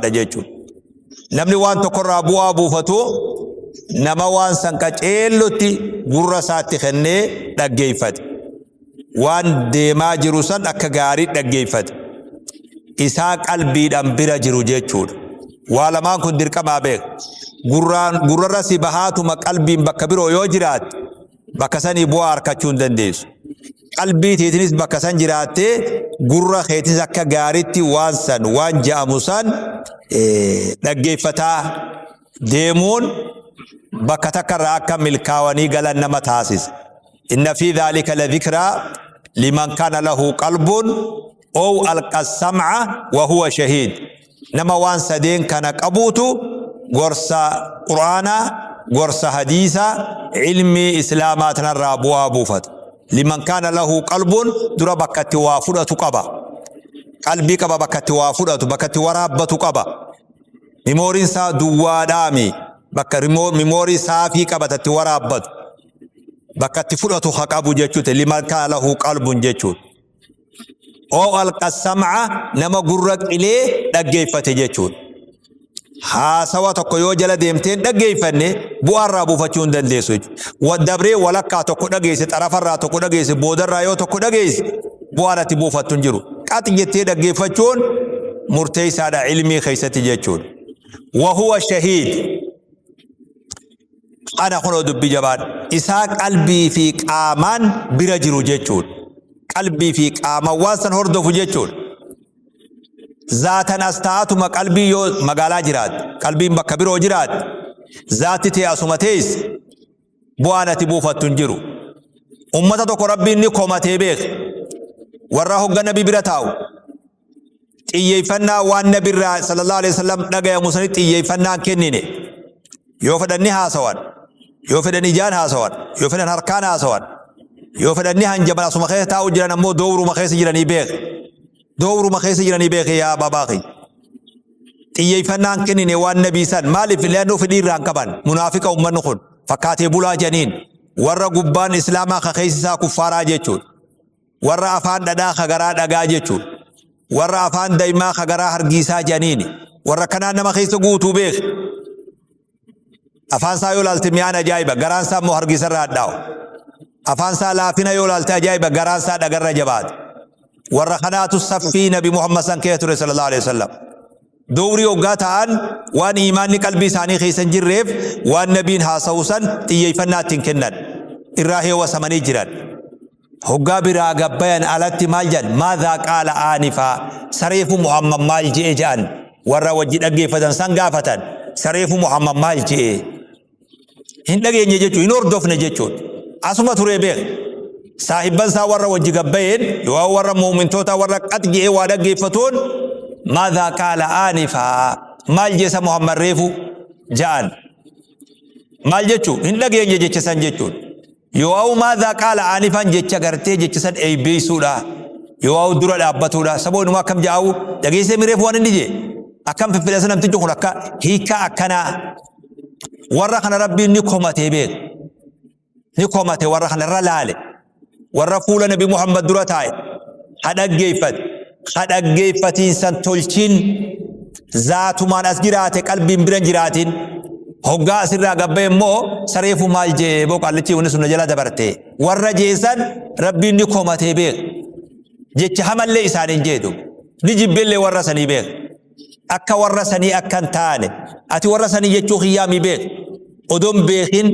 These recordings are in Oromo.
dha jechuudha. Namni waan tokkorraa bu'aa buufatu nama waan san qaceellotti gurra isaatti kennee dhaggeeffate. Waan deemaa jiru san akka gaarii dhaggeeffate. Isaa qalbiidhaan bira jiru jechuudha. Waa lamaan kun dirqamaa beeka. Gurraan gurrarra si bahaatuma qalbiin bakka biroo yoo jiraatte bakka sanii bu'aa arkachuu hin dandeessu. Qalbii teetinis bakka san jiraattee gurra keetis akka gaaritti waan san waan ja'amu san dhaggeeffataa deemuun bakka takka irraa akka milkaawanii galan nama taasisa. Inna fi dhaalika la dhikraa liman kana lahu qalbuun ow alqa sam'a wa huwa shahiid. Nama waan sadeen kana qabuutu gorsa Qur'aanaa, gorsa hadiisaa, ilmii Islaamaa tanarraa bu'aa buufata. Liman kaana lahu qalbuun dura bakka itti waa fudhatu qaba. Qalbii qaba bakka itti waa fudhatu, bakka itti waraabbatu qaba. Mimooriin isaa duwwaadhaami. Bakka mimoorii saafii qabata itti waraabbatu. Bakka itti fudhatu ha qabu jechuudha. Liman kaana lahu qalbuun jechuudha. oo alqa sam'a nama gurra qilee dhaggeeffate jechuudha. Haasawa tokko yoo jala deemteen dhaggeeffanne bu'aarraa buufachuu hin dandeessu jechuudha. Dabree walakkaa tokko dhageesse, xarafarraa tokko dhageesse, boodarraa yoo tokko dhageesse bu'aan ati buufattu hin jiru. Qaxi jettee dhaggeeffachuun murteessaadha ilmii keessatti jechuudha. Wahuwa shahiid. Kana kunoo dubbii jabaadha. Isaa qalbii fi qaamaan bira jiru jechuudha. Qalbii fi qaamaan waan san hordofu jechuudha. Zaatan as taa'atuma qalbii yoo magaalaa jiraatte, qalbiin bakka biroo jiraatte, zaatti tee asuma teessi bu'aan ati buufattu hin jiru. Uummata tokko rabbiin ni komatee beeka. Warra hogga nabi bira taa'u, xiyyeeffannaa waan nabi irraa sallallahu alaihi wasallam dhagayamu sanitti xiyyeeffannaa kennine yoo fedhan ni haasawan yoo fedhan ijaan haasawan yoo fedhan harkaan haasawan yoo fedhan ni hanjaman asuma keessa taa'u jiran ammoo doowruma keessa jiranii beeke doowruma keessa jiranii beeke yaa baabaa kiyya xiyyeeffannaan kennine waan nabii san maaliif leennoo fedhii irraa hin qaban munaafiqa ummanni kun fakkaatee bulaa janiin warra gubbaan islaamaa ka keessa isaa kuffaaraa jechuudha Warra afaan dhadhaa ka garaa dhagaa jechuun. Warra afaan daimaa ka garaa hargiisaa jedhaniini. Warra kanaan nama keessa guutuu beeki. Afaan isaa yoo ilaalte mi'aan ajaa'iba. Garaan isaa immoo hargiisa irraa hadhaa'u. Afaan isaa laafina yoo ilaalte ajaa'iba. Garaan isaa dhagarra jabaate. Warra kanaatu saffii Nabi Muhammad san keessa ture sallallahu alaihi wasallam. Dowrii hoggaa ta'an waan iimaanni qalbii isaanii keessa hin jirreef waan nabiin haasa'u san xiyyeeffannaa ittiin kennan. Irraa heewasamanii jiran. hoggaa biraa gabbayan alatti maal jedhan maadhaa qaala aanifaa sareefu muhammad maal je'e jedhan warra wajji dhaggeeffatan san gaafatan sareefu muhammad maal je'e hin dhageenye jechuun hin hordofne jechuun asuma turee beek saahibban isaa warra wajji gabbayeen yoo warra muumintootaa warra qat je'e waa dhaggeeffatuun maadhaa qaala aanifaa maal jeesa muhammad reefu ja'an maal jechuun hin dhageenye jecha san jechuun Yoo'aa'u maadaa qaala aanifaan jecha gartee jecha san eebbeessuudha. Yoo'aa'u dura dhaabbatuudha. Saboo inumaa akkam ja'aa'u dhageessee mireef waan inni jee. Akkam fiffilasa namtichi kun akka hiikaa akkanaa. Warra kana rabbiin ni komatee beeku. Ni komate warra kana irra laale. Warra fuula nabi Muhammad dura taa'e. Ha dhaggeeffate. ka dhaggeeffatiinsan tolchiin zaatumaan as jiraate qalbiin biran jiraatiin hoggaa asirraa gabba immoo sareefu maal jee boo qaallichi wanni sunna jala dabarte warra jeesan rabbiin ni komatee beek jecha hamallee isaaniin jeedu ni jibbillee warra sanii beek akka warra sanii akka hin taane ati warra sanii jechuu kiyyaami beek odoon beekin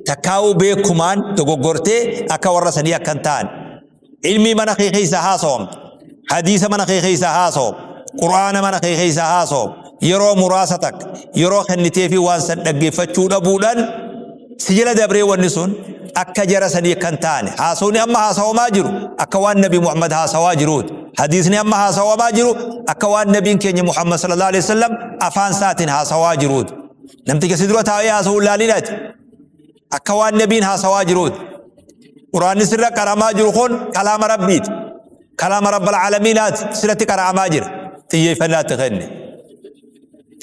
takkaa'uu beekumaan dogoggortee akka warra sanii akka hin taane ilmii mana kee keessa haasawam hadiisa mana kee keessa haasawam quraana mana kee keessa haasawam yeroo muraasa takka yeroo kennitee fi waan san dhaggeeffachuu dhabuudhaan si jala dabree wanni sun akka jara sanii kan taane haasawni amma haasawamaa jiru akka waan nabi Muhammad haasawaa jiruuti hadiisni amma haasawamaa jiru akka waan nabiin keenya Muhammad sallallahu alaihi wasallam afaan isaatiin haasawaa jiruuti namticha si dura taa'ee haasawuu laalinaati Akka waan nabiin haasawaa jiruuti. Quraanni sirra qara'amaa jiru kun kalaama rabbiiti. Kalaama rabbal caalamiinaati sirratti qara'amaa jira. Xiyyeeffannaa itti kenni.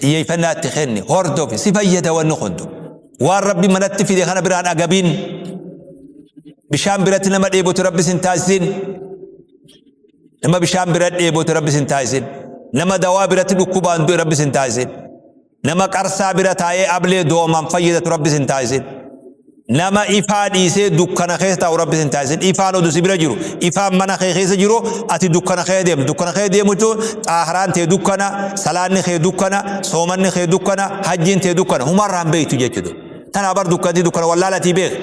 Xiyyeeffannaa itti kenni. Hordofi si fayyada wanni kuntu. Waan rabbi manatti fide kana biraan agabiin. Bishaan biratti nama dheebotu rabbi sin taasisin. Nama bishaan bira dheebotu rabbi sin taasisin. Nama dawaa biratti dhukkubaan du'e rabbi sin taasisin. Nama qarsaa bira taa'ee ablee doomaan fayyadatu rabbi sin taasisin. Nama ifaa dhiisee dukkana keessa taa'u rabbi sin taasisin. Ifaan oduu si bira jiru. Ifaan mana kee keessa jiru ati dukkana kee deemu. Dukkana kee deemu jechuun xaahraan tee dukkana, salaanni kee dukkana, soomanni kee dukkana, hajjiin tee dukkana. Humarraan beektu jechuudha. Tanaa bar dukkanti dukkana wallaalatii beeku.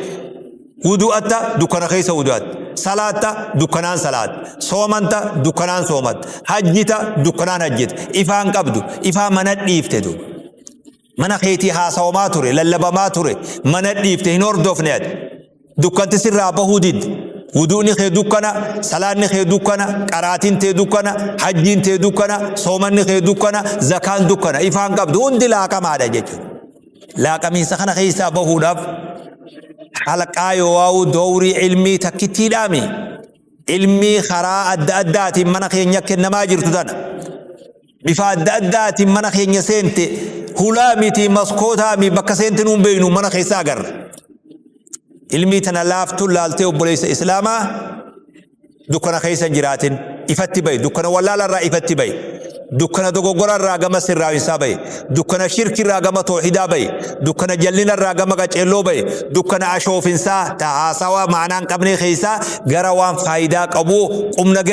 Wudu'atta dukkana keessa wudu'atta. Salaatta dukkanaan salaatta. Soomanta dukkanaan soomatta. Hajjita dukkanaan hajjita. Ifaan qabdu. Ifaa mana dhiifte duuba. Mana keetii haasawamaa ture, lallabamaa ture, mana dhiifte hin hordofne ati. Dukkanti sirraa bahuu didde. Wudu'ni kee dukkana, salaanni kee dukkana, qaraatiin tee dukkana, hajjiin tee dukkana, soomanni kee dukkana, zakaan dukkana. Ifaan qabdu hundi laaqamaadha jechuudha. laaqamiinsa kana keessaa bahuudhaaf halqaa yoowaa'uu doorii ilmii takkittiidhaami ilmii karaa adda addaatiin mana keenya kennamaa jirtu tana bifa adda addaatiin mana keenya seente hulaa miti maskootaa mi bakka seente nuun beeynu mana keessaa agarra ilmii tana laaftuun laaltee obboleessa islaamaa dukkana keessa jiraatin ifatti ba'i dukkana wallaala irraa ifatti ba'i dukkana dogoggora irraa gama sirraawinsaa ba'i dukkana shirki irraa gama toohidaa ba'i dukkana jallina irraa gama qaceelloo ba'i dukkana ashoofinsaa ta haasawaa maanaan qabnee keessaa gara waan faayidaa qabuu qumna